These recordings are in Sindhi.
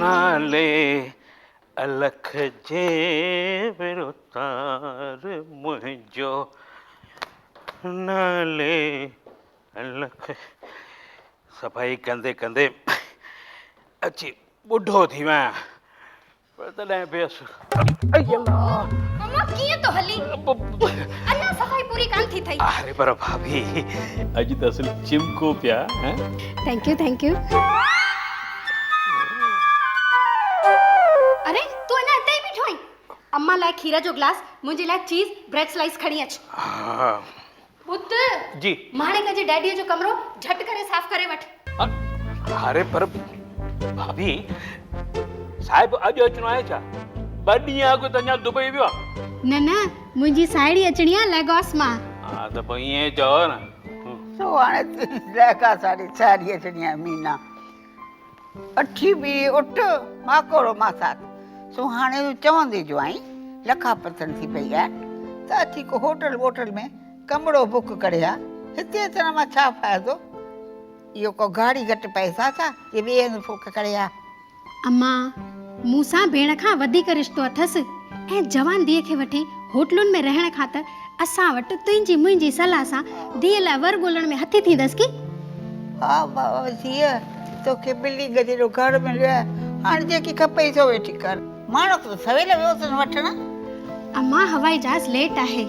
نالي الخ جي وروتار منهنجو نالي الخ صفائي ڪندي ڪندي اچي ٻڍو ٿي ويان پر تڏهن به اس. اي الله! امان ڪيئن ٿو هلي؟ اڃا صفائي پوري ڪانه ٿي ٿئي. اري پر ڀاڀي اڄ ته اصل چمڪو پيا. Thank you thank you. اري تون اڃا اتي ئي بيٺو آهين. امان لاء کير جو گلاس منهنجي لاء چيز بريڊ سلائيس کڻي اچ. ها. بت! جي. ماڻڪ جي ڊيڊيء جو ڪمرو جهٽ ڪري صاف ڪري وٺ. اري پر ڀاڀي، صاحب اڄ اچڻو آهي ڇا؟ ٻه ڏينهن اڳ ته اڃا دبئي ويو آهي. نه نه، منهنجي ساهيڙي اچڻي آهي ليگاس مان. ها ته پوء ائين چئو نه. سو هاڻي تنهنجي ليگاس واري ساهيڙي اچڻي آهي مينا. اٺي بي اٺ ماڪوڙو ماسات سونهاڻي جو چوندي جوائين لکا پتن ٿي پئي آهي ته اچي ڪو هوٽل ووٽل ۾ ڪمرو بڪ ڪري ها هتي اچڻ مان ڇا فائدو اهو ڪو گاڙي گهٽ پئسا ڇا جي ٻئي هنڌ فوڪ ڪري ها اما مون سان ڀيڻ کان وڌيڪ رشتو اٿس ۽ جوان ڌيء کي وٺي هوٽلن ۾ رهڻ کان ته اسان وٽ تنهنجي منهنجي صلاح سان ڌيء لاء ور ڳولڻ ۾ هٿي ٿيندس ڪي؟ ها ماء ڌيء، توکي ٻلي گڏي جو گهر مليو آهي، هاڻ جيڪي کپئي سو ويٺي ڪر. ماڻهو ته سويل ويو اٿس وٺڻ. امان هوائي جهاز ليٽ آهي.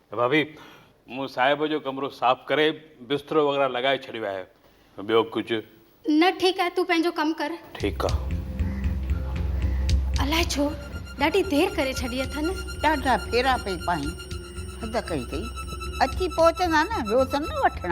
ڀاڀي، مون صاحب جو ڪمرو صاف ڪري بسترو وغيره لڳائي ڇڏيو آهي. ٻيو ڪجهه؟ نه ٺيڪ آهي، تون پنهنجو ڪم ڪر. ٺيڪ آ. الائي ڇو ڏاڍي دير ڪري ڇڏي اٿن. ڏاڍا ڦيرا پئي پائين. حد ڪئي اٿئي. اچي پهچندا نه، ويو اٿن نه وٺڻ.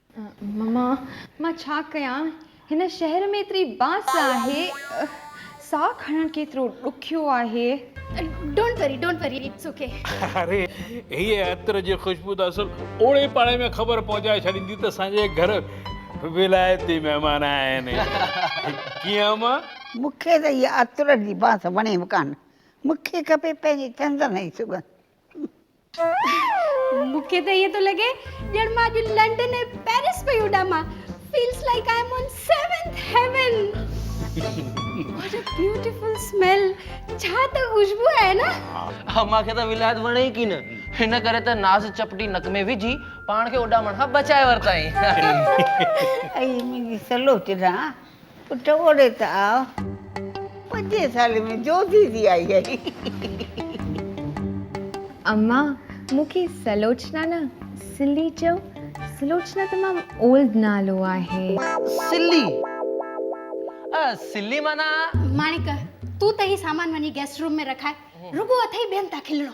مما مان ڇا ڪيان هن شهر ۾ ايتري بانس آهي ساهه کڻڻ ڪيترو ڏکيو آهي. ڊونٽ وري ڊونٽ وري اٽس اوڪي. اري هيء عطر جي خوشبو ته اصل اوڙي پاڙي ۾ خبر پهچائي ڇڏيندي ته اسان جي گهر ولايتي مهمان آيا آهن ڪيئن اما؟ مون کي ته هيء عطر جي بانس وڻي به ڪانه مون کي کپي پنهنجي چندن جي سڳنڌ. مون کي ته ائين ٿو لڳي ڄڻ مان اڄ لنڊن ۽ پئرس پئي اڏامان feels like I am on seventh heaven what a beautiful smell ڇا ته خوشبو آهي نه ها مان کي ته ولايت وڻي ئي ڪين هن ڪري ته ناز چپٽي نڪ ۾ وجهي پاڻ کي اڏامڻ کان بچائي ورتائين ۽ منهنجي سلو چڏا پٽ اوڏي ته آء پنجين سالين ۾ جوڌي ٿي آئي آهي. اما مون کي سلوچنا نه سلي چئو. سلوچنا تمام اولڊ نالو آهي. سلي اهه سلي معنيٰ. ماڻڪ تون ته هي سامان وڃي گيسٽ روم ۾ رکاء. رڳو اٿئي ٻين تان کلڻو.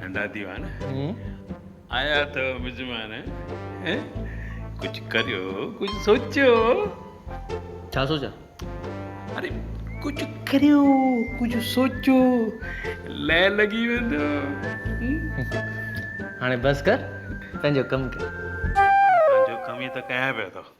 ننڍا ديوان آيا اٿو مزمان ڪجهه ڪريو ڪجهه سوچيو ڇا سوچيان اري ڪجهه ڪريو ڪجهه سوچيو لئه لڳي ويندو هاڻي بس ڪر پنهنجو ڪم ڪر پنهنجو ڪم ئي ته ڪيان پيو ٿو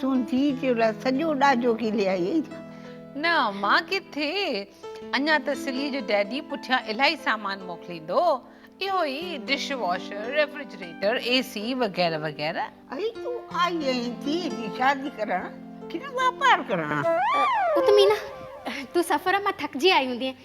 تون ڌيء جي لاء سڄو ڏاجو کلي آئي آهين ڇا؟ نه مان ڪٿي، اڃا ته سليء جو ڊيڊي پٺيان الائي سامان موڪليندو، اهو ئي dish washer, refrigerator, A C وغيره وغيره. اڙي تون آئي آهين ڌيء جي شادي ڪرڻ ڪنه واپار ڪرڻ؟ اٿ مينا، تون سفر مان ٿڪجي آئي هوندينء،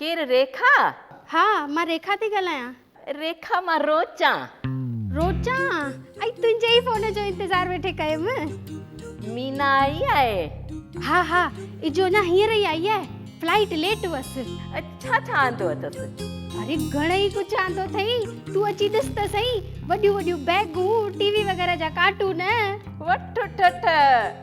ڪير ريکا؟ ها مان ريکا ٿي ڳالهايان. ريکا مان روچان. روچان ائي تنهنجي ئي فون جو انتظار ويٺي ڪيم. مينا آئي آهي؟ ها ها اجهو اڃا هينئر ئي آئي آهي فلائيٽ ليٽ هئس. ڇا ڇا آندو اٿس؟ اري گهڻئي ڪجهه آندو اٿئي تون اچي ڏس ته سهي وڏيون وڏيون بيگون ٽي وي وغيره جا ڪارٽون. وٺ ٺٺ.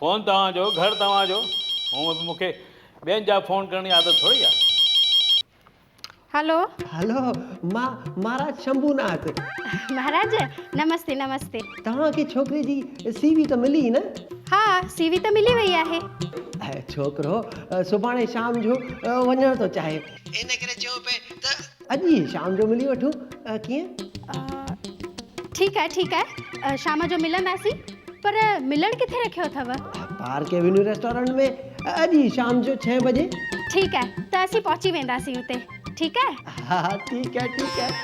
فون توهان جو گهر توهان جو هونء به مونکي ٻين جا فون ڪرڻ جي عادت ٿوري آ. هلو. هلو. مان مهاراج شنڀو ناٿ. مهاراج. نمستي نمستي. توهان کي ڇوڪري جي سي وي ته ملي نه؟ ها سي وي ته ملي وئي آهي. ڇوڪرو سڀاڻي شام جو وڃڻ ٿو چاهي. ان ڪري چيو پئي ته اڄ ئي شام جو ملي وٺون ۽ ڪيئن؟ ٺيڪ آهي ٺيڪ آهي شام جو ملنداسين پر ملڻ ڪٿي رکيو اٿو؟ پارڪ ايونيو ريسٽورنٽ ۾ اڄ ئي شام جو ڇهين بجي. ٺيڪ آهي ته اسين پهچي وينداسين اتي ٺيڪ آهي؟ ها ها ٺيڪ آهي ٺيڪ آهي.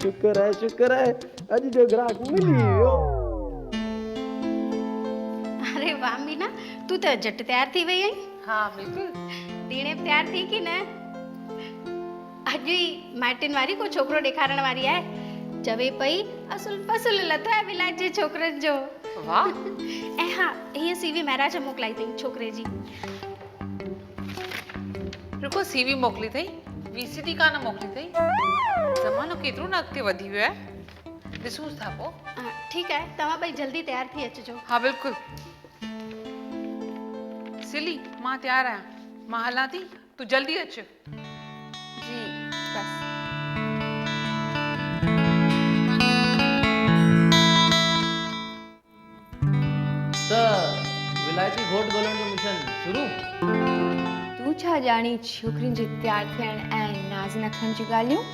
شڪر آهي شڪر آهي اڄ جو گراهڪ ملي ئي ويو. اري واهه مينا تون ته جٽ تيار ٿي وئي آهين. ها بلڪل ڌيڻي به تيار ٿي ڪي نه اڄ ئي مائٽين واري ڪو ڇوڪرو ڏيکارڻ واري آهي چوي پئي اصل فصل لٿو آهي ولايت جي ڇوڪرن جو واهه ۽ ها هي سي وي مهراج موڪلائي اٿئي ڇوڪري جي رکو سي وي موڪلي اٿئي وي سي ڊي ڪانه موڪلي اٿئي زمانو ڪيترو نه اڳتي وڌي ويو آهي ڏسونس ٿا پو ٺيڪ آهي توهان ٻئي جلدي تيار ٿي اچجو ها بلڪل سلي، مان تيار آهيان. مان هلان ٿي، تون جلدي اچ. جي بس. ته ولائتي گهوٽ ڳولڻ جو مشن شروع؟ تون ڇا ڄاڻين ڇوڪرين جي تيار ٿيڻ ۽ ناز نخرن جون ڳالهيون؟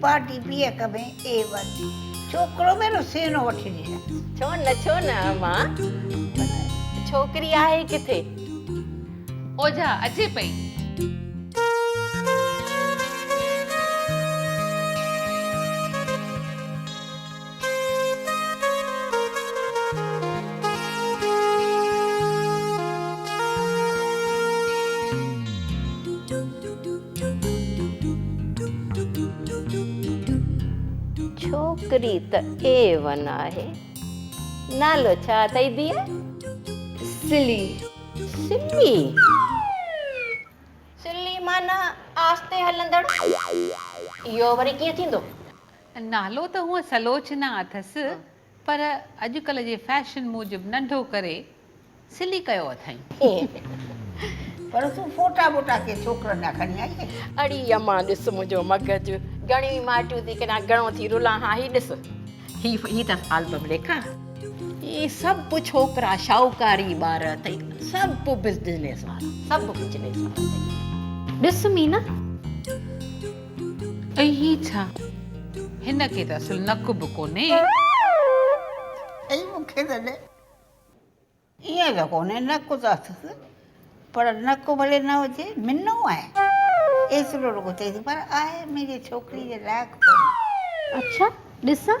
پارٽي پي اڪ ۾ اي ون ڇوڪرو ۾ نو سينو وٺي ڏينس. ڇو نه ڇو نه امان ڇوڪري آهي ڪٿي. اوجها اچي پئي. ڇوڪري ته اي ون آهي. نالو ڇا اٿئي ڌيء؟ سلي. سلي؟ سلي معنيٰ آهستي هلندڙ. اهو وري ڪيئن ٿيندو؟ نالو ته هونء سلوچنا اٿس پر اڄڪلهه جي فيشن موجب ننڍو ڪري سلي ڪيو اٿائين. پر تون فوٽا ٻوٽا ڪنهن ڇوڪرن جا کڻي آئي آهين. اڙي امان ڏس منهنجو مغز گهڻيون ئي مائٽيون ٿي ڪريان گهڻو ٿي رلان ها هي ڏس هي هي اٿس آلبم ڏيکان هي سڀ ڇوڪرا شاهوڪاري ٻار اٿئي سڀ بزنس وارا سڀ بزنس وارا اٿئي ڏس مينا. اي هي ڇا؟ هن کي ته اصل نڪ به ڪونهي. اي مون کي ته ڏي. ائين ته ڪونهي نڪ ته اٿس پر نڪ ڀلي نه هجي منو آهي ايترو رڳو چئيس پر آهي منهنجي ڇوڪري جي لائق ڪونهي. اڇا ڏسان.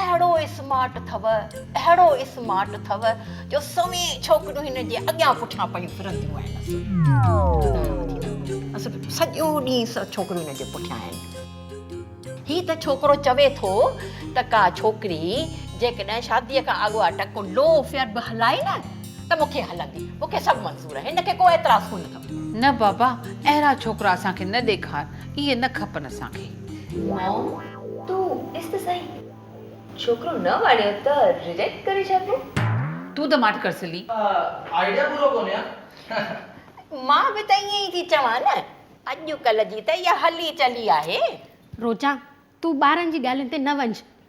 اهڙو اسمارٽ اٿو اهڙو اسمارٽ اٿو جو سوين ڇوڪريون هن جي اڳيان پٺيان پيون ڦرنديون آهنس اصل سڄو ڏينهن ڇوڪريون هن جي پٺيان آهن هي ته ڇوڪرو چوي ٿو ته ڪا ڇوڪري جيڪڏهن شادي کان اڳو اٽڪ ڪو لو افيئر به هلائي نه ته مون کي هلندي مون کي سڀ منظور آهي هن کي ڪو اعتراض ڪونه اٿم. نه بابا اهڙا ڇوڪرا اسان کي نه ڏيکار اهي نه کپن اسان کي. مام تون ڏس ته سهي ڇوڪرو نه وڻيو ته ريجيڪٽ ڪري ڇڏبو. تون ته ماٺ ڪر سلي. آئيڊيا پورو ڪونهي ها. مان به ته ائين ئي ٿي چوان نه اڄڪلهه جي ته اها هلي چلي آهي. روچا تون ٻارن جي ڳالهين تي نه وڃ.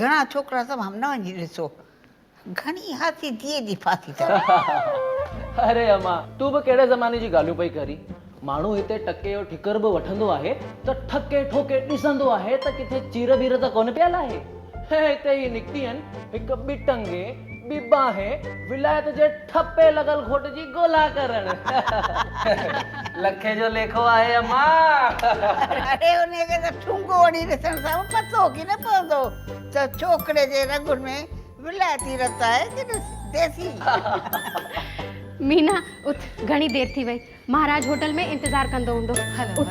گهڻا ڇوڪرا سڀ همنوائن جي ڏسو گهڻي هاسي ڌيء جي ڦاسي اٿن. اري امان تون به ڪهڙي زماني جي ڳالهيون پئي ڪرين ماڻهو هتي ٽڪي جو ٺڪر به وٺندو آهي ته ٺڪي ٺوڪي ڏسندو آهي ته ڪٿي چير ٻير ته ڪونه پيل آهي هتي هي نڪتي آهن هڪ ٻه ٽنگي ٻي ٻانهين ولايت جي ٺپي لڳل گهوٽ جي ڳولا ڪرڻ. لکي جو ليکو آهي امان. اڙي انهيء کي ته ٺونگو هڻي ڏسڻ سان به پتو ڪي نه پوندو ته ڇوڪري جي رڳن ۾ ولايتي رت آهي ڪي نه ديسي. مينا اٿ گهڻي دير ٿي وئي مهاراج هوٽل ۾ انتظار ڪندو هوندو اٿ.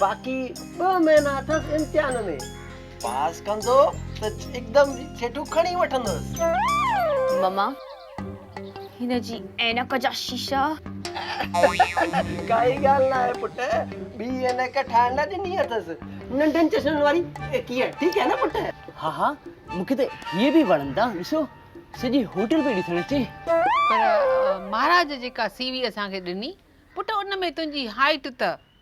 باقي ٻه مهينا اٿس امتحان ۾. پاس ڪندو ته هڪدم ڇيٽو کڻي وٺندس. مما هن جي عينڪ جا شيشا. ڪائي ڳالهه ناهي پٽ ٻي عينڪ ٺاهڻ لاء ڏني اٿس ننڍن چشمن واري ڪيئن ٺيڪ هي نه پٽ. ها ها مون کي ته هي به وڻن ٿا ڏسو سڄي هوٽل پئي ڏسڻ اچي. پر مهاراج جيڪا سيوي اسان کي ڏني پٽ ان ۾ تنهنجي هائيٽ ته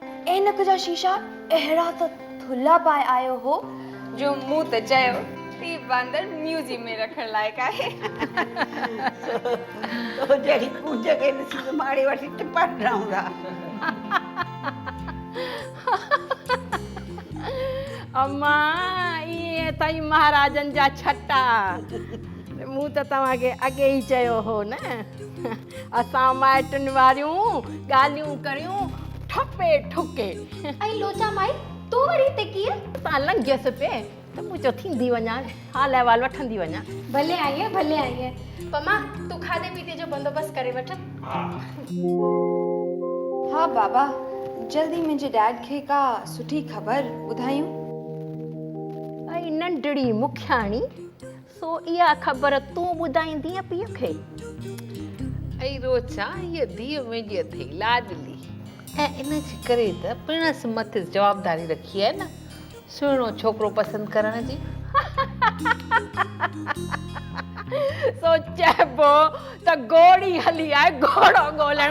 عينڪ جا شيشا اهڙا ته ٿلها پائي آيو هو جو مون ته چيو هي باندر ميوزيم ۾ رکڻ لائق آهي. تو جهڙي ڪونج کي ڏسي ته ماڙي وٺي ٽپا ڏنائون ٿا. امان، اهي اٿئي مهاراجن جا ڇٽا. مون ته توهان کي اڳي ئي چيو هو نه. اسان مائٽن واريون ڳالهيون ڪريون ٺپي ٺڪي. ۽ لوچا مائي تون وري هتي ڪيئن؟ اتان لنگهيس پئي ته مون چيو ٿيندي وڃان حال احوال وٺندي وڃان. ڀلي آئينء ڀلي آئينء. پما تون کاڌي پيتي جو بندوبست ڪري وٺ. ها بابا جلدي منهنجي ڊيڊ کي ڪا سٺي خبر ٻڌايون. اي ننڍڙي مکياڻي سو اها خبر تون ٻڌائيندينء پيء کي. اي روچا، هيء ڌيء منهنجي اٿئي لاڏلي، ۽ ان جي ڪري ته پڻس مٿس جوابداري رکي آهي نه سهڻو ڇوڪرو پسند ڪرڻ جي. سو چئبو ته گهوڙي هلي آهي گهوڙو ڳولڻ.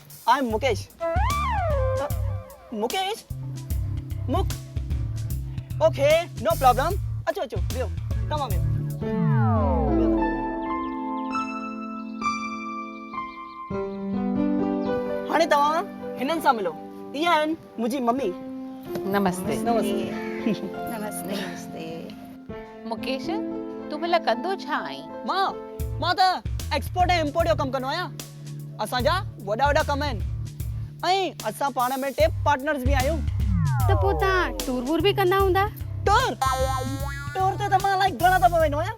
آء ايم مڪيش مڪيش مڪ اوڪي نو پرابلم اچو اچو ويهو توهان ويهو هاڻي توهان هنن سان ملو اهي آهن منهنجي ممي. نمستي. نمستي. مڪيش تون ڀلا ڪندو ڇا آهين؟ مان مان ته ايڪسپورٽ ۽ امپورٽ جو ڪم ڪندو آهيان. اسان جا وڏا وڏا ڪم آهن ۽ اسان پاڻ ۾ ٽي پارٽنرز به آهيون. ته پوء توهان ٽور وور به ڪندا هوندا؟ ٽور؟ ٽور تي ته مان الائي گهڻا دفعا ويندو آهيان.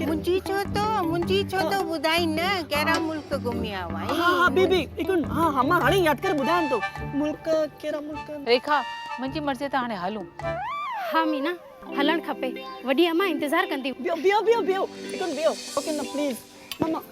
منھنجي ڇو ٿو منھنجي ڇو ٿو ٻڌائين نه ڪهڙا ملڪ گهمي آيو آهين ها ها بي بي هڪ منٽ ها ها مان هاڻي ياد ڪري ٻڌايان ٿو ملڪ ڪهڙا ملڪ ريکا منھنجي مرضي تان هاڻي هلون ها مينا هلڻ کپي وڏي امان انتظار ڪندي بيهو بيهو بيهو بيهو هڪ منٽ بيهو اوڪي نه پليز ماما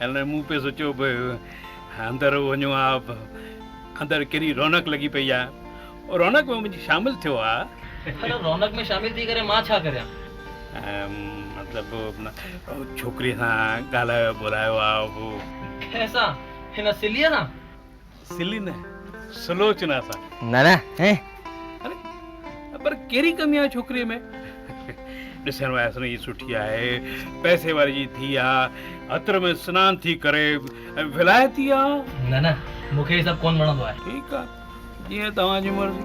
هن مون پئي سوچيو به اندر وڃون ها اندر ڪهڙي رونق لڳي پئي آ رونق ۾ وڃي شامل ٿيو ها. پر رونق ۾ شامل ٿي ڪري مان ڇا ڪريان. مطلب ڇوڪري سان ڳالهايو ٻولهايو ها. ڪنهن سان هن سليء سان. سلي نه سلوچنا سان. نه نه هين. اري پر ڪهڙي ڪمي آهي ڇوڪريء ۾. ڏسڻ ۾ اسان جي سٺي آهي، پئسي واري جي ڌيء آهي، عطر ۾ سنان ٿي ڪري، ۽ ولايتي آهي. نه نه مون کي هي سڀ ڪونه وڻندو آهي. ٺيڪ آهي جيئن توهان جي مرضي.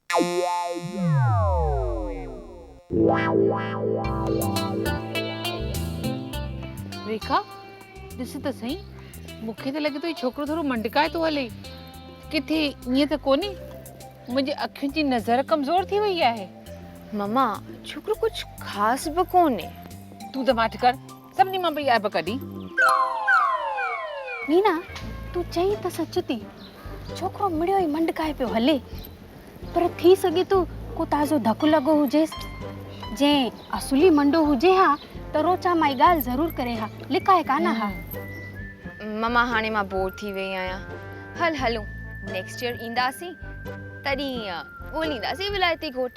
ريکا ڏس ته سهي مون کي ته لڳي ٿو هي ڇوڪرو ٿورو منڊڪائي ٿو هلي ڪٿي ائين ته ڪونهي منهنجي اکين جي نظر ڪمزور ٿي وئي آهي مما ڇوڪرو ڪجهه خاص به ڪونهي تون ته ماٺ ڪر سڀني مان پئي عيب ڪڍي. نينا تون چئين ته سچ ٿي ڇوڪرو مڙيو ئي منڊڪائي پيو هلي پر ٿي سگهي ٿو ڪو تازو ڌڪ لڳو هجيس جي اصلي منڊو هجي ها ته روچا مائي ڳالهه ضرور ڪري ها لڪائي ڪانه ها. مما هاڻي مان بور ٿي وئي آهيان هل هلون نيڪسٽ ييئر اينداسين. تڏهن ڳولينداسين ولايتي گهوٽ.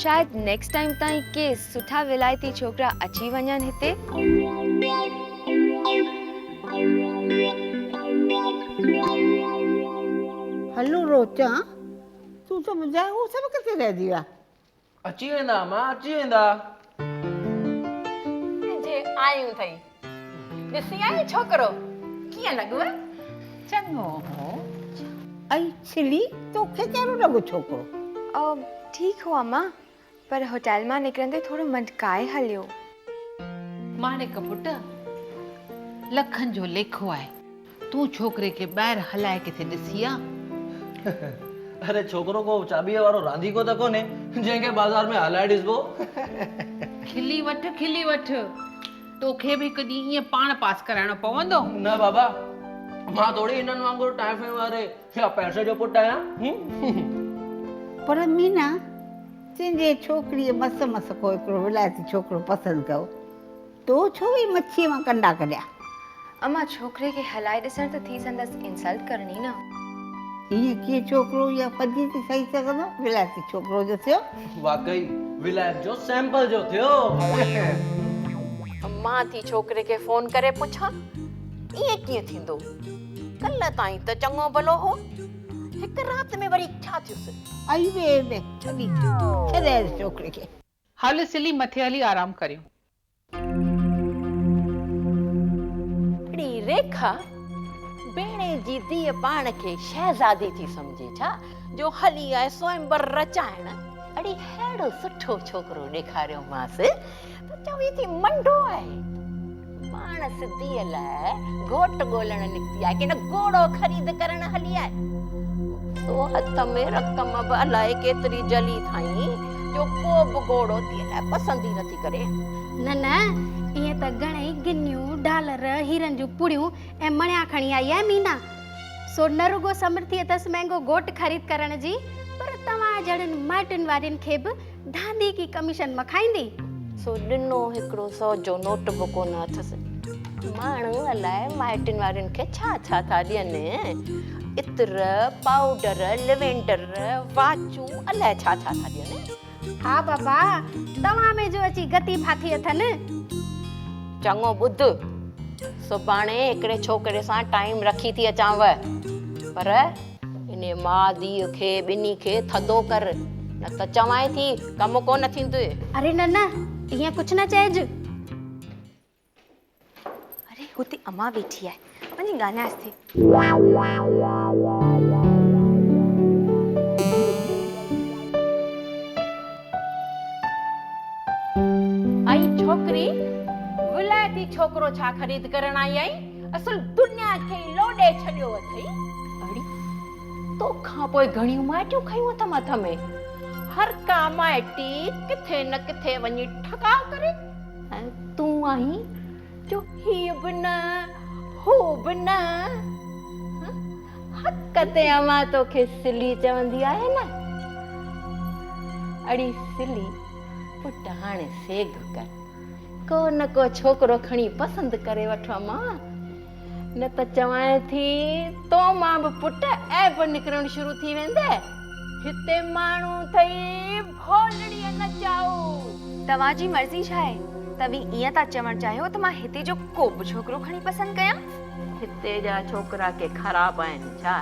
شايد نيڪسٽ ٽائيم تائين ڪي سٺا ولايتي ڇوڪرا اچي وڃن هتي. هلو روچان تون ته ٻڌاء هو سڀ ڪٿي رهجي ويا. اچي ويندا امان اچي ويندا. جي آيون ٿئي ڏسي آئين ڇوڪرو ڪيئن لڳو. چڱو هو ۽ ڇلي توکي ڪهڙو لڳو ڇوڪرو. او ٺيڪ هو امان پر هوٽيل مان نڪرندي ٿورو منڊڪائي هليو. ماڻڪ پٽ لکن جو ليکو آهي. تون ڇوڪري کي ٻاهر هلائي ڪٿي ڏسي آ؟ اڙي ڇوڪرو ڪو چاٻيء وارو رانديڪو ته ڪونهي جنهن کي بازار ۾ هلائي ڏسبو. کلي وٺ کلي وٺ توکي به هڪ ڏينهن ائين پاڻ پاس ڪرائڻو پوندو. نه بابا مان ٿوري هنن وانگر ٽائيفي واري يا پئسي جو پٽ آهيان. پر مينا تنهنجي ڇوڪريء مس مس ڪو هڪڙو ولايتي ڇوڪرو پسند ڪيو. تو ڇو هي مڇيء مان ڪنڊا ڪڍيا؟ امان ڇوڪري کي هلائي ڏسڻ ته ٿي سندس انسلٽ ڪرڻي نه. ايئن ڪيئن ڇوڪرو يا پڄي ٿي سهي سگهندو. ولايتي ڇوڪرو جو ٿيو. واقعي ولايت جو سيمپل جو ٿيو. مان ٿي ڇوڪري کي فون ڪري پڇان ايئن ڪيئن ٿيندو. ڪلهه تائين ته چڱو ڀلو هو. هڪ رات ۾ وري ڇا ٿيس. اي وي اي وي ڇڏي ڇڏيس ڇوڪري کي. هل سلي مٿي هلي آرام ڪريون. اڙي ريکا، بيڻي جي ڌيء پاڻ کي شهزادي ٿي سمجهي ڇا جو هلي آء سوئمبر رچائڻ. اڙي ههڙو سٺو ڇوڪرو ڏيکاريومانس ته چوي ٿي منڊو آهي. پاڻ سڌيء لاء گهوٽ ڳولڻ نڪتي آهي ڪنهن گهوڙو خريد ڪرڻ هلي آهي. سو هٿ ۾ رقم به الائي ڪيتري جهلي اٿائين جو ڪو به گهوڙو تيء لاء پسند ئي نٿي ڪري. نه نه، ائين ته گهڻيئي گنيون، ڊالر، هيرن جون پڙيون ۽ مڻيا کڻي آئي آهي مينا. سو نه رڳو سمرٿي اٿس مهنگو گهوٽ خريد ڪرڻ جي، پر توهان جهڙن مائٽن وارين کي به دادي ڪي ڪميشن مکائيندي. سو ڏنو هڪڙو سئو جو نوٽ به ڪونه اٿس. ماڻهو الاء مائٽن وارين کي ڇا ڇا ٿا ڏين. عطر، پائوڊر، ليونڊر، واچون الاء ڇا ڇا ٿا ڏين. ها بابا توهان ۾ جو اچي گتي ڦاٿي اٿن. چڱو ٻڌ سڀاڻي هڪڙي ڇوڪري سان ٽائيم رکي ٿي اچانء پر. انهيء ماء ڌيء کي ٻنهي کي ٿڌو ڪر، نه ته چوانء ٿي، ڪم ڪونه ٿيندوء. اري نه نه، ايئن ڪجهه نه چئج. اري هتي امان ويٺي آهي، وڃي ڳالهائينس ٿي. اي ڇوڪري، ولائتي ڇوڪرو ڇا خريد ڪرڻ آئي آهين؟ اصل دنيا کي ئي لوڏي ڇڏيو اٿئي. اڙي، تو کان پوء گهڻيون مائٽيون کنيون اٿم هٿ ۾. هر ڪا مائٽي ڪٿي نه ڪٿي وڃي ٺڪاء ڪري. ۽ تون آهين جو هيء به نه، هو به نه. حق تي امان توکي سلي چوندي آهي نه. اڙي سلي، پٽ هاڻي سيگهه ڪر. ڪو نه ڪو ڇوڪرو کڻي پسند ڪري وٺ اما نه ته چوانء ٿي تو مان به پٽ عيب نڪرڻ شروع ٿي ويندي هتي ماڻهو ٿئي ڀولڙيء نچائو توهان جي مرضي ڇا آهي توهين ائين ٿا چوڻ چاهيو ته مان هتي جو ڪو به ڇوڪرو کڻي پسند ڪيان هتي جا ڇوڪرا ڪي خراب آهن ڇا؟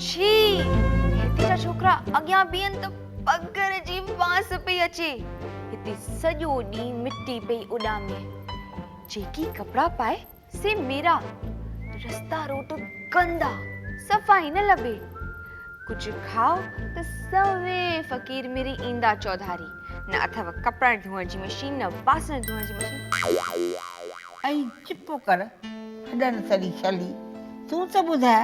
ڇي! هتي جا ڇوڪرا اڳيان بيهن ته پگهر جي بانس پئي اچي، هتي سڄو ڏينهن مٽي پئي اڏامي. جيڪي ڪپڙا پائي سي ميرا، رستا روٽ گندا، صفائي نه لڀي. ڪجهه کاء ته سوين فقير ميري ايندا چوڌاري، نه اٿئو ڪپڙا ڌوئڻ جي مشين نه باسڻ ڌوئڻ جي مشين. اي چپ ڪر هڏن سڙي شلي، تون ته ٻڌاء.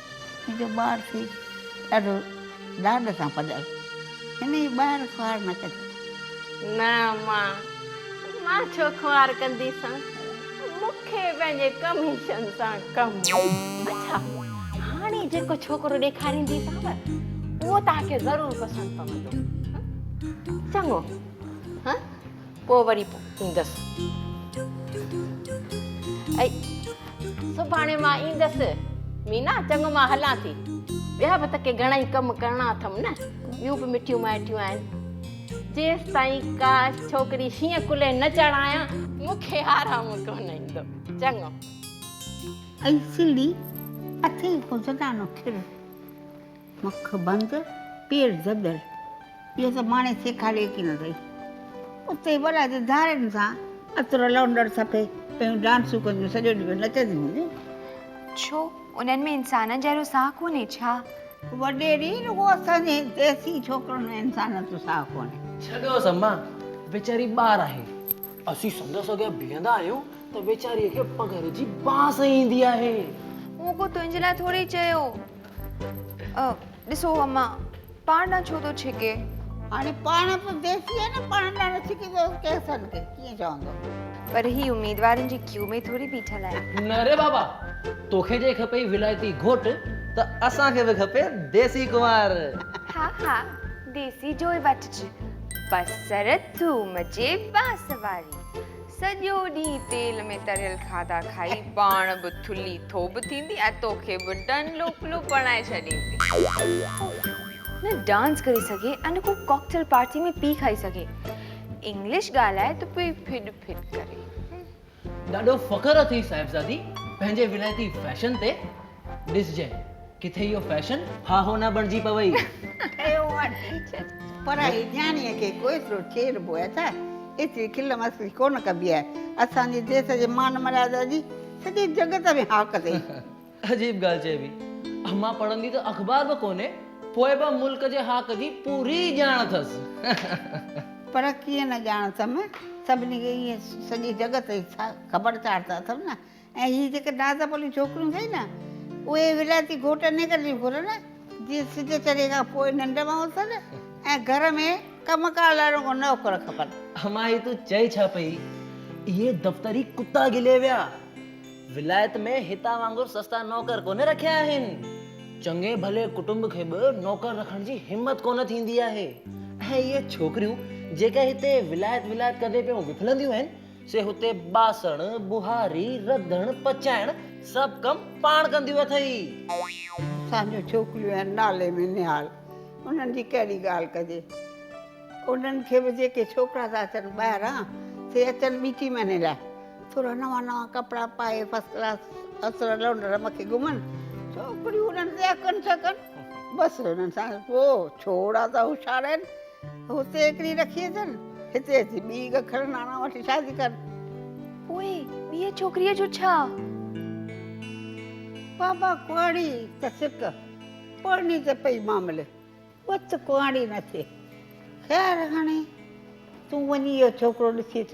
منهنجو ٻار ٿي ڏاڍو ڏاڏ سان پڏائي هن جي ٻاهر خوار نه ڪجي. نه امان مان ڇو خوار ڪنديسان مون کي پنهنجي ڪميشن سان ڪم هو. اڇا هاڻي جيڪو ڇوڪرو ڏيکارينديسانو اهو توهان کي ضرور پسند پوندو چڱو هان. پوء وري ايندس. ۽ سڀاڻي مان ايندس. مينا، چڱو مان هلان ٿي. ٻيا به ته ڪي گهڻائي ڪم ڪرڻا اٿم نه. ٻيون به مٺيون مائٽيون آهن. جيستائين ڪاش ڇوڪري شينهن ڪلهي نه چڙهايان، مون کي آرام ڪونه ايندو. چڱو. اي سنڌي، اٿي هو زنانو ٿر. مک بند پير زدر اهو سڀ ماڻي سيکاريو ڪين اٿئي اتي وڏا ته ڌارين سان عطر لونڊر سفي پيون ڊانسون ڪنديون سڄو ڏينهن پيون نچنديون هونديون. ڇو انهن ۾ انسانن جهڙو ساهه ڪونهي ڇا؟ وڏيري رڳو اسان جي ديسي ڇوڪرن ۾ انسانن جو ساهه ڪونهي. ڇڏوس اما ويچاري ٻار آهي. اسين سندس اڳيان بيهندا آهيون ته ويچاريء کي پگهر جي بانس ايندي آهي. مون ڪو تنهنجي لاء ٿوري چيو ڏسو اما پاڻ ڏانهن ڇو ٿو ڇڪي. هاڻي پاڻ به ديسي آهي نه پاڻ ڏانهن نه ڇڪي ته ڪيس ٿن کي ڪيئن چوندو. پر هي اميدوارن جي ڪيو ۾ ٿوري بيٺل آهي. نه ري بابا توکي جي کپئي ولايتي گهوٽ ته اسان کي به کپي ديسي ڪنوار. ها ها ديسي جوئي وٺج بصر ٿوم جي بانس واري سڄو ڏينهن تيل ۾ تريل کاڌا کائي پاڻ به ٿلهي ٿوٻ ٿيندي ۽ توکي به ڊن لوڪلو بڻائي ڇڏيندي. نه ڊانس ڪري سگهي ۽ نه ڪو ڪاڪٽيل پارٽي ۾ پي کائي سگهي. انگلش ڳالهائي ته پئي ڦڏ ڦڏ ڪري. ڏاڍو فخر اٿئي صاحبزادي پنهنجي ولايتي فيشن تي. ڏسجئين. ڪٿي اهو فيشن ها هو نه بڻجي پوي. ٺهيو آ ٽيچر پر هي نياڻيء کي ڪوئيترو چيڙبو آهي ڇا؟ ايتري کل مسخري ڪونه ڪبي آهي. اسان جي ديس جي مان مريادا جي سڄي جڳت ۾ هاڪ اٿئي. عجيب ڳالهه چئبي. امان پڙهندي ته اخبار به ڪونهي پوء به ملڪ جي هاڪ جي پوري ڄاڻ اٿس. پر ڪيئن نه ڄاڻ اٿم. سڀني کي ايئن سڄي جڳت جي خبر چار ته اٿم نه. ۽ هي جيڪي نازڪ پليون ڇوڪريون ٿئي نه اهي ولايتي گهوٽ انهي ڪري ٿيون گهرن جي سج چڙهي کان پوء ننڊ مان اٿن ۽ گهر ۾ ڪم ڪار لاء رڳو نوڪر کپن. امان هي تون چئي ڇا پئي اهي دفتري ڪتا گلي ويا ولايت ۾ هتان وانگر سستا نوڪر ڪونه رکيا آهن چڱي ڀلي ڪٽنب کي به نوڪر رکڻ جي همت ڪونه ٿيندي آهي ۽ اهي ڇوڪريون جيڪي هتي ولايت ولايت ڪندي پيون وڦلنديون آهن سي هتي ٻاسڻ، ٻهاري، رڌڻ، پچائڻ سڀ ڪم پاڻ ڪنديون اٿئي. اسان جون ڇوڪريون آهن نالي ۾ نهال، انهن جي ڪهڙي ڳالهه ڪجي. انهن کي به جيڪي ڇوڪرا ٿا اچن ٻاهران، سي اچن ٻي ٽي مهيني لاء. ٿورا نوان نوان ڪپڙا پائي فرسٽ ڪلاس اسر لونڊر مکي گهمن. ڇوڪريون انهن تي اڪن ڇڪن. بس انهن سان پوء ڇوڙا ته هوشيار آهن. هتي هڪڙي رکي اچن، هتي اچي ٻي گکر ناڻا وٺي شادي ڪن. پوء ٻيء ڇوڪريء جو ڇا؟ بابا ڪهاڙي ته سڪ، پڙهڻي ته پئي ماملي، بت ڪهاڙي نه ٿئي. خير هاڻي تون وڃي اهو ڇوڪرو ڏسي اچ.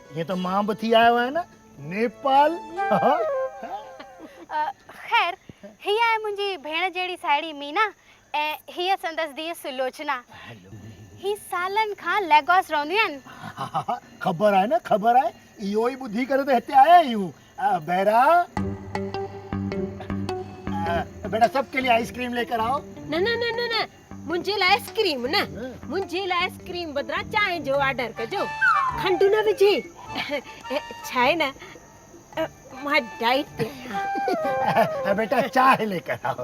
ائين ته مان به ٿي آيو آهيان نيپال. خير هي آهي منهنجي ڀيڻ جهڙي ساهيڙي مينا ۽ هيء سندس ڌيء سلوچنا. هي سالن کان ليگوس رهنديون آهن. خبر آهي نه خبر آهي اهو ئي ٻڌي ڪري ته هتي آيا آهيون بيرا بيٽا سڀ ڪي لي آئس ڪريم لي ڪر آئو نه نه نه نه نه منهنجي لاء آئس ڪريم نه منهنجي لاء آئس ڪريم بدران چانهه جو آرڊر ڪجو کنڊ نه وجهي ڇا آهي نه مان ڊائيٽ تي آهيان بيٽا چانهه لي ڪر آئو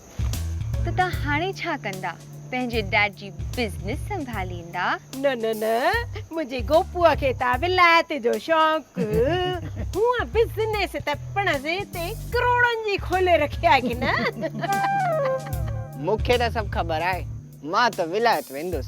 ته تان هاڻي ڇا ڪندا؟ پنهنجي ڊيڊ جي بزنس سنڀاليندا؟ نه نه نه منهنجي گوپوء کي ته ولايت جو شوق هونء بزنس ته پڻ زي تي ڪروڙن جي کولي رکي آهي ڪي نه. مون کي ته سڀ خبر آهي مان ته ولايت ويندس.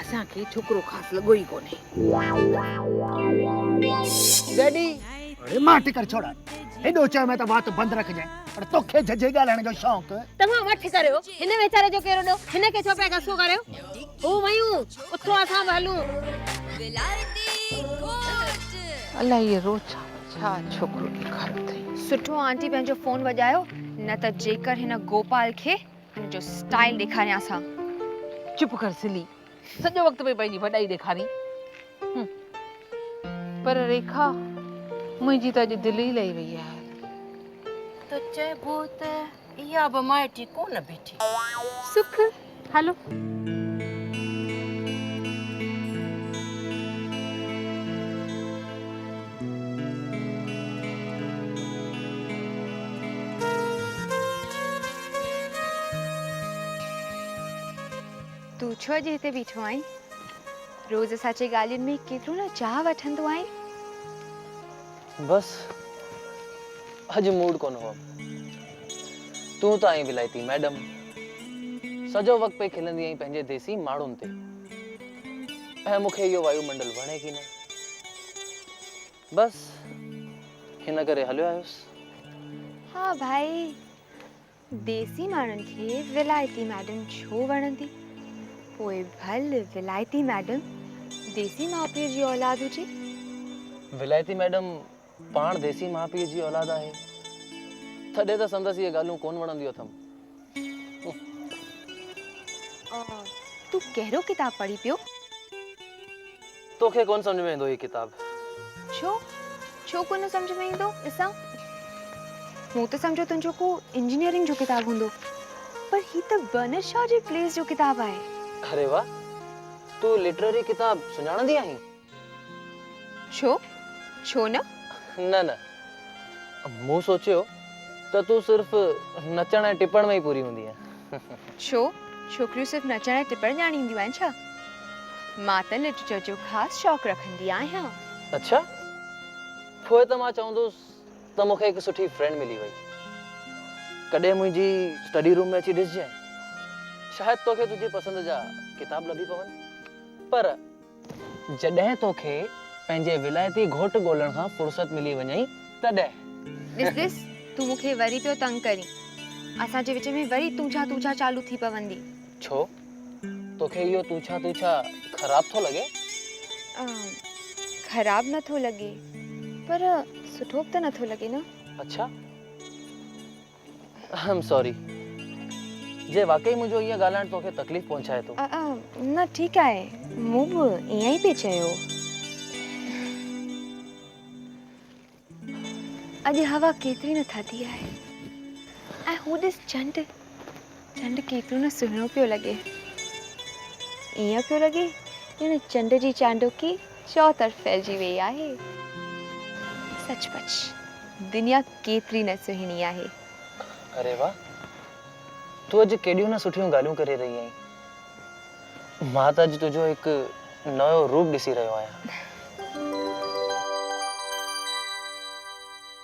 اسان کي ڇوڪرو خاص لڳو ئي ڪونهي. ڊيڊي! اڙي مان ٽڪر ڇوڙاء. هيڏو چيو مين ته وات بند رکجانء پر توکي جھجھي ڳالهائڻ جو شوق. توهان وٺ ڪريو هن ويچاري جو ڪير ڏو. هن کي ڇو پيا غصو ڪريو. هو ويون اٿو اسان به هلون. الاء هيء روچا ڇا ڇوڪرو ڏيکاريو اٿئي. سٺو آنٽي پنهنجو فون وڄايو نه ته جيڪر هن گوپال کي ان جو اسٽائل ڏيکاريانس ها. چپ ڪر سلي، سڄو وقت پئي پنهنجي وڏائي ڏيکارين. هم. پر ريکا، منهنجي ته اڄ دل ئي لهي وئي آهي. ته چئبو ته اها به مائٽي ڪونه بيٺي. سک، هلو. تون ڇو اڄ هتي بيٺو آهين؟ روز اسان جي ڳالهين ۾ ڪيترو نه چاهه وٺندو آهين. بس اڄ موڊ ڪونه هو. تون ته آهين ولائتي ميڊم. سڄو وقت پئي کلندي آهين پنهنجي ديسي ماڻهن تي. ۽ مون کي اهو وايو منڊل وڻي ڪي نه. بس ان ڪري هليو آيس. ها ڀائي ديسي ماڻهن کي ولايتي ميڊم ڇو وڻندي پوء ڀل ولايتي ميڊم ديسي ماء پيء جي اولاد هجي. ولايتي ميڊم پاڻ ديسي ماء پيء جي اولاد آهي تڏهن ته سندس اهي ڳالهيون ڪونه وڻنديون اٿم. تون ڪهڙو ڪتاب پڙهين پيو؟ توکي ڪونه سمجهه ۾ ايندو هي ڪتاب. ڇو؟ ڇو ڪونه سمجهه ۾ ايندو؟ ڏسان. مون ته سمجهيو تنهنجو ڪو انجنيئرنگ جو ڪتاب هوندو. پر هي ته برنر شا جي پليز جو ڪتاب آهي. اري واهه! تون لٽرري ڪتاب سڃاڻندي آهين؟ ڇو؟ ڇو نه؟ نه نه. مون سوچيو ته تون صرف نچڻ ۽ ٽپڻ ۾ ئي پوري هوندينء. ڇو؟ ڇوڪريون صرف نچڻ ۽ ٽپڻ ڄاڻينديون آهن ڇا؟ مان ته لٽريچر جو خاص شوق رکندي آهيان. اڇا! پوء ته مان چوندس ته مون کي هڪ سٺي فرينڊ ملي وئي. ڪڏهن منهنجي اسٽڊي روم ۾ اچي ڏسجانء. شايد توکي تنهنجي پسند جا ڪتاب لڀي پون. پر. جڏهن توکي پنهنجي ولايتي گهوٽ ڳولڻ کان فرصت ملي وڃئي تڏهن. ڏس ڏس تون مون کي وري پيو تنگ ڪرين. اسان جي وچ ۾ وري تون ڇا تون ڇا چالو ٿي پوندي. ڇو؟ توکي اهو تون ڇا تون ڇا خراب ٿو لڳي؟ خراب نه ٿو لڳي پر سٺو به ته نه ٿو لڳي نه. اڇا. آئم سوري جي واقعي منهنجو ائين ڳالهائڻ توکي تڪليف پهچائي ٿو. نه ٺيڪ آهي مون به ائين ئي پئي چيو. اڄ هوا ڪيتري نه ٿڌي آهي ۽ هو ڏس چنڊ چنڊ ڪيترو نه سهڻو پيو لڳي. ائين پيو لڳي ڄڻ چنڊ جي چانڊوڪي چؤطرف ڦهلجي ويئي آهي. سچ پچ دنيا ڪيتري نه سهڻي آهي. اري واهه! تون اڄ ڪيڏيون نه سٺيون ڳالهيون ڪري رهي آهين. مان ته اڄ تنهنجو هڪ نئون روپ ڏسي رهيو آهيان.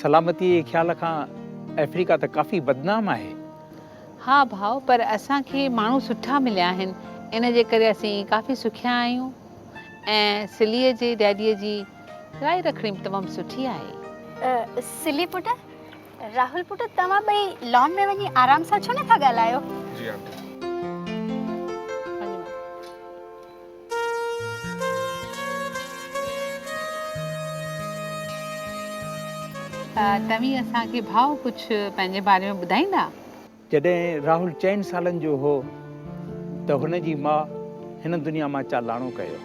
سلامتيء جي خيال کان آفريڪا ته ڪافي بدنام آهي. ها ڀاء، پر اسان کي ماڻهو سٺا مليا آهن، ان جي ڪري اسين ڪافي سکيا آهيون ۽ سليء جي ڊيڊيء جي راء رکڻي به تمام سٺي آهي. سلي پٽ، راهول پٽ توهان ٻئي لان ۾ وڃي آرام سان ڇو نه ٿا ڳالهايو؟ جي آنٽي. توهين اسان کي ڀاء ڪجھ پنهنجي باري ۾ ٻڌائيندا؟ جڏهن راهول چئن سالن جو هو ته هن جي ماء هن دنيا مان چالاڻو ڪيو.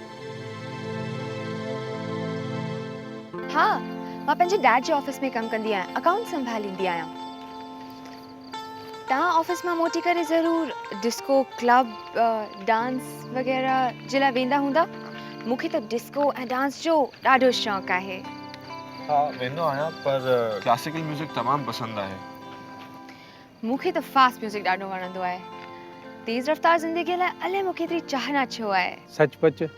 ها مان پنهنجي ڊيڊ جي آفيس ۾ ڪم ڪندي آهيان اڪائونٽس سنڀاليندي آهيان. توهان آفيس مان موٽي ڪري ضرور ڊسڪو ڪلب ڊانس وغيره جي لاء ويندا هوندا مون کي ته ڊسڪو ۽ ڊانس جو ڏاڍو شوق آهي ها ويندو آهيان پر ڪلاسيڪل ميوزڪ تمام پسند آهي مون کي ته فاسٽ ميوزڪ ڏاڍو وڻندو آهي تيز رفتار زندگي لاء الائي مون کي ايتري چاهنا ڇو آهي سچ پچ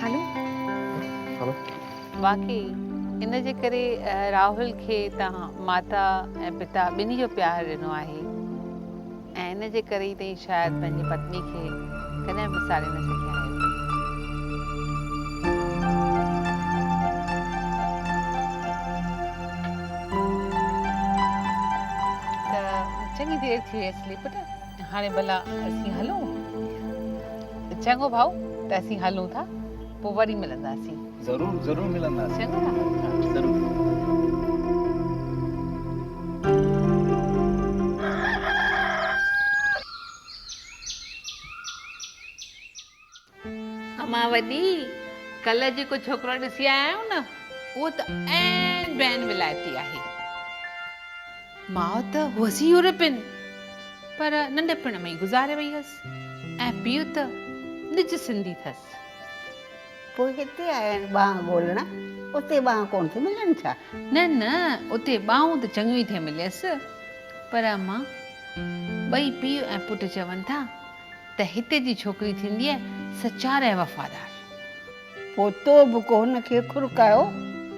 هلو هلو واقعي ان جي ڪري راهل کي تنهن ماتا ۽ پتا ٻنهي جو پيار ڏنو آهي ۽ ان جي ڪري ئي تنهن شايد پنهنجي پتني کي ڪڏهن به ساڙي نه سگهيا آهيو ته چڱي دير ٿي ويس لي پٽ هاڻي ڀلا اسين هلون؟ چڱو ڀائو ته اسين هلون ٿا پوء وري ملنداسين. ضرور ضرور ملنداسين. چڱو ڀائو ضرور. امان وڏي، ڪلهه جيڪو ڇوڪرو ڏسي آيا آهيون نه، اهو ته عين بين ولايتي آهي. ماء ته هئس ئي يورپين، پر ننڍپڻ ۾ ئي گذاري وئي هئس ۽ پيء ته نج سنڌي ٿس. پوء هتي آيا آهن ٻانهن ڳولڻ، اتي ٻانهن ڪونه ٿي ملن ڇا؟ نه نه، اتي ٻانهون ته چڱيون ئي ٿي مليس، پر امان، ٻئي پيء ۽ پٽ چون ٿا ته هتي جي ڇوڪري ٿينديء سچار ۽ وفادار. پوء تو به ڪو هن کي کرڪايو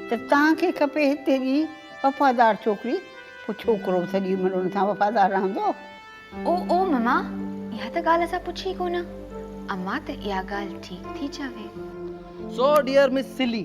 ته توهان کي کپي هتي جي وفادار ڇوڪري، پوء ڇوڪرو به سڄي عمر ان سان وفادار رهندو. او او مما، اها ته ڳالهه اسان پڇي ئي ڪونه. امان ته اها ڳالهه ٺيڪ ٿي چوي. سو ڊيئر مس سلي.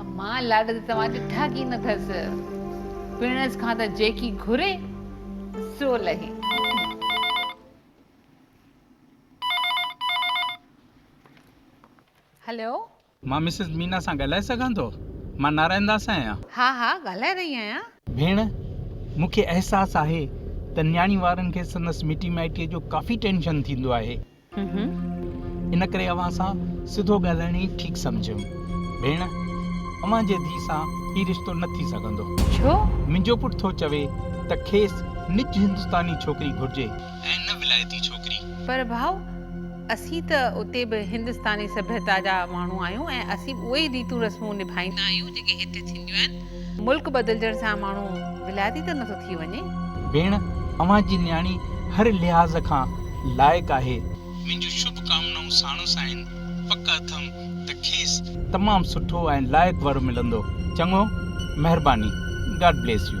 امان لاڏ ته توهان ڏٺا ڪين اٿس، پڻس کان ته جيڪي گهري سو لهي. هلو. مان مسز مينا سان ڳالهائي سگهان ٿو؟ مان نارائن داس آهيان. ها ها ڳالهائي رهي آهيان. ڀيڻ، مون کي احساس آهي ته نياڻي وارن کي سندس مٽي مائٽيء جو ڪافي ٽينشن ٿيندو آهي. ان ڪري اوهان سان سڌو ڳالهائڻ ئي ٺيڪ سمجهيم. ڀيڻ، اوهان جي ڌيء سان هي رشتو نه ٿي سگهندو. ڇو؟ منهنجو پٽ ٿو چوي ته کيس نج هندستاني ڇوڪري گهرجي ۽ نه ولايتي ڇوڪري. پر ڀائو، اسين ته اتي به هندستاني سڀيتا جا ماڻهو آهيون ۽ اسين به اهي ئي ريتون رسمون نڀائيندا آهيون، جيڪي هتي ٿينديون آهن. ملڪ بدلجڻ سان ماڻهو ولايتي ته نٿو ٿي وڃي. ڀيڻ اوهان جي نياڻي هر لحاظ کان لائق آهي. منهنجون شڀ ڪامنائون ساڻس آهن پڪ اٿم ته کيس. تمام سٺو ۽ لائق ور ملندو چڱو مهرباني God bless you.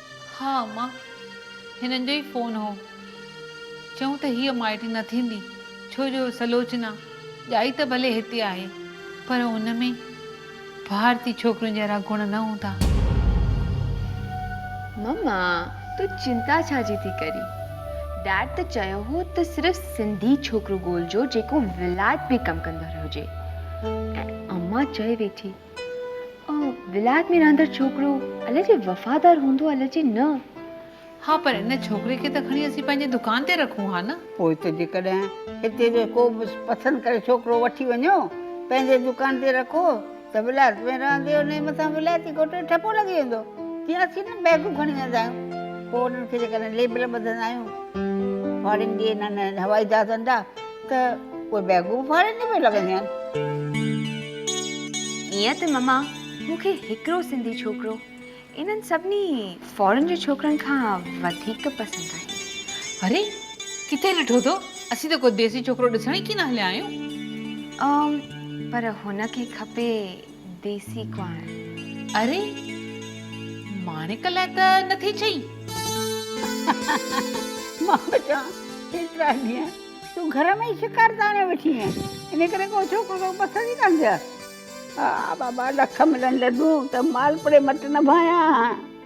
ها اما، هنن جو ئي فون هو. چئون ته هيء مائٽ نه ٿيندي، ڇو جو سلوچنا ڄائي ته ڀلي هتي آهي، پر ان ۾ ڀارتي ڇوڪريون جهڙا گڻ نه هوندا. مما، تون چنتا ڇا جي ٿي ڪرين؟ ڊيڊ ته چيو هو ته صرف سنڌي ڇوڪرو ڳولجو، جيڪو ولايت ۾ ڪم ڪندڙ هجي. ۽ اما چئي ويٺي. ولايت ۾ رهندڙ ڇوڪرو الا جي وفادار هوندو الا جي نه. ها پر ان ڇوڪري کي ته کڻي اسين پنهنجي دڪان تي رکون ها نه. پوء ته جيڪڏهن هتي جو ڪو به پسند ڪري ڇوڪرو وٺي وڃو پنهنجي دڪان تي رکو ته ولايت ۾ رهندي انهي مٿان ولايتي گهوٽ جو ٺپو لڳي ويندو جيئن اسين نه بيگون کڻي ويندا آهيون پوء انهن کي جيڪڏهن ليبل ٻڌندا آهيون فارين جي انهن هوائي جهازن جا ته اهي بيگون ڦاڙين ۾ به لڳنديون آهن. ائين ته مما مون کي هڪڙو سنڌي ڇوڪرو انهن سڀني فارن جي ڇوڪرن کان وڌيڪ پسند آهي. اري ڪٿي ڏٺو اٿو؟ اسين ته ڪو ديسي ڇوڪرو ڏسڻ ئي ڪين هليا آهيون. پر هن کي کپي ديسي ڪوانء. اري! ماڻڪ لاء ته نه ٿي چئين؟ مان به چوان، ايترا ڏينهن تون گهر ۾ ئي شڪار تاڻي ويٺي هئين، ان ڪري ڪو ڇوڪرو توکي پسند ئي ڪانه ٿيو آهي. ها بابا، لک ملن لڏون ته مالپوڙي مٽ نه ڀانيان هان.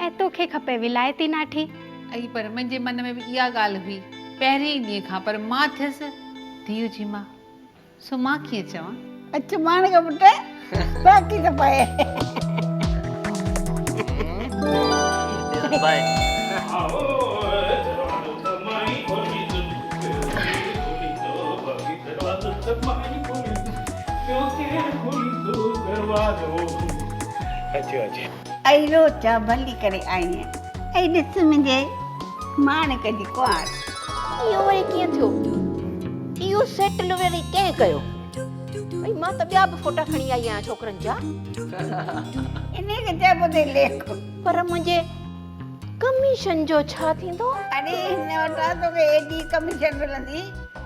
اي توکي کپي ولايتي ناٺي. اي پر منهنجي من ۾ به اها ڳالهه هئي پهرين ئي ڏينهن کان پر مان ٿيس ڌيء جي ماء سو مان ڪيئن چوان. اچ ماڻڪ پٽ باقي ته پئي. اچ اچ. اي روز جا ڀلي ڪري آئين ۽ ڏس منهنجي ماڻڪ جي ڪنوار. اهو وري ڪيئن ٿيو؟ اهو سيٽل وري ڪنهن ڪيو؟ ڀئي مان ته ٻيا به فوٽا کڻي آئي آهيان ڇوڪرن جا. انهيء کي چئبو اٿئي ليڪ. پر منهنجي ڪميشن جو ڇا ٿيندو؟ اڙي هن وٽان توکي ايڏي ڪميشن ملندي.